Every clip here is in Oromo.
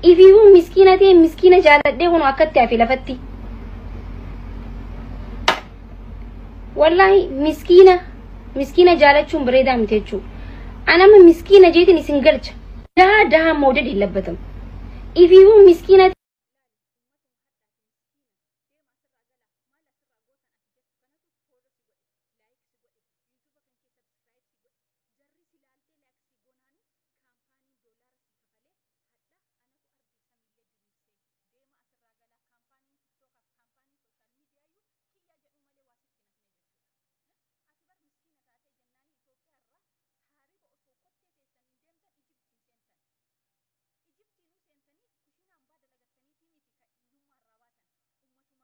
Ifiifuu miskiina ta'e miskiina jaaladhee kun akkatti hafe lafatti. Wallaahi miskiina miskiina jaalachuun bareedaa miti jechuudha. Anama miskiina jeetiin isin galcha. Dahaa dahaa moodadi hin labbatamu. Ifiifuu miskiina Kaampaaniin doolaara sii kafalee hadha anatu ardiif samiillee diriirsee deema asirraa galaa kaampaaniin tiktookaaf kaampaaniin sooshaal miidiyaayyuu kiyyaa jedhuu malee waa sitti hin hafnee jechuudha. Ati bar miskiina taatee jennaanii Itoophiyaa irraa taariba osoo kottee teessaniin deemtan Ijiptiin seentan. Ijiptiinuu seentanii kushiinaa ambaa dalagattaniitii miti ka hiyyummaa irraa baatan.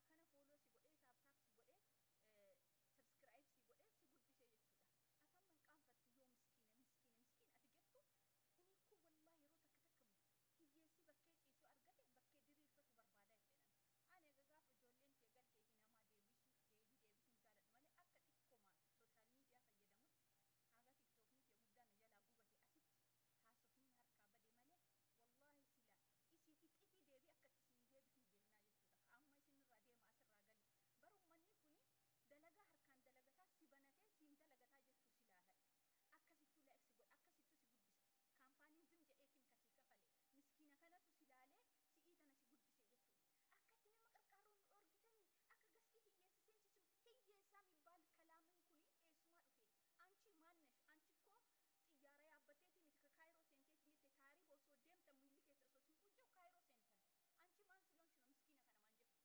Ummatuma kana fooloo si godhee taap taap si godhee sabskiraayib si godhee si guddisee jechuudha. ati amma hin qaanfatte yoo miskiina miskiina miskiina ati jettu inni kun wallaa yeroo takka takka mu hiyyeessi bakkee ciisu argate bakkee diriirfatu barbaada jedhenan ani egaa gaafa ijoolleen tee galteeti namaa deebisu deebii deebisuun jaaladhu malee akka xiqqoomaan sooshaal miidiyaa fayyadamutti haga tiktookni tee guddaa na jalaa gubate asitti haasofniin harkaa bade malee wallaahi sila isin ixifii deebii akka itti isinii deebifnu beeknaa jechuudha ka amma isin irraa deema asirraa gali bar ummanni kuni dalagaa harkaan dalagataa si banatee siin dalagataa jechuu si laala akkasittuu like si godha akkasittuu si guddisa kaampaaniin zim jedheetiin ka sii kafale miskiina kanatu si laalee si'ii tana si guddise jechuun akka itti nama qarqaarru nu dhoorgitanii akka gastii hiyyeessa seensisnu hiyyeessaa mibbaal kalaamin kuni eessumaa dhufe anchi maan nesh anchi koo xiyyaara yaabbatteetii miti ka kaayiroo seenteetiin jette taariiba osoo deemtan miilli keessa osoo siin quucca'u kaayiroo seentan anchi maan siloon shino miskiina kana maan jettu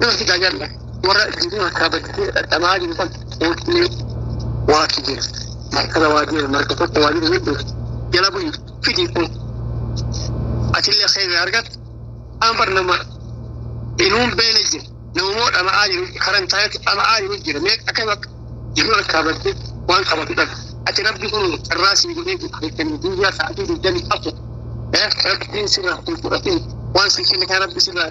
Nuti tajaajila warra jiru harkaa bakkee dhadhamaa jiru kan hootnee waaki jira. Markaba waa jira marka tokko waa jira jedhu jala bu'i fidii kun. Achillee seera argatu ambar nama inuun beela jira. Namoota dhama'aa jiru karan taa'etti dhama'aa jiru jira. Mee akka bakka jiru harkaa bakkee waan qabatu dhabu. Ati rabbi kun carraa sii godhee jiru beekanii guyyaa sa'aatii digdamii afur. Rabbiin sirraa kun fudhatee waan sii kenne kan rabbi sirraa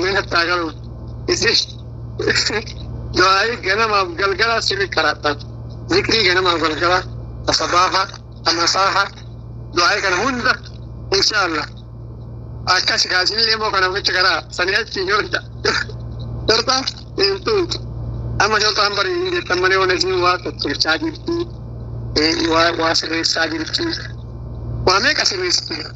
Mee natti haa galu. Isin du'aayii ganamaaf galgalaa sirri qaraadhaan. Zikrii ganamaaf galgalaa. Asabaaha, amasaaha. Du'aayii kana hunda. Inshaallah. Akkas kaasinillee immoo kana gocha karaa sanii achi hin horta. Horta hin tuutu. Amma shortaan barii hin jettan malee waan isin waa tolchaa jirti. Waa sirreessaa jirti. Waa meeqa sirreessite?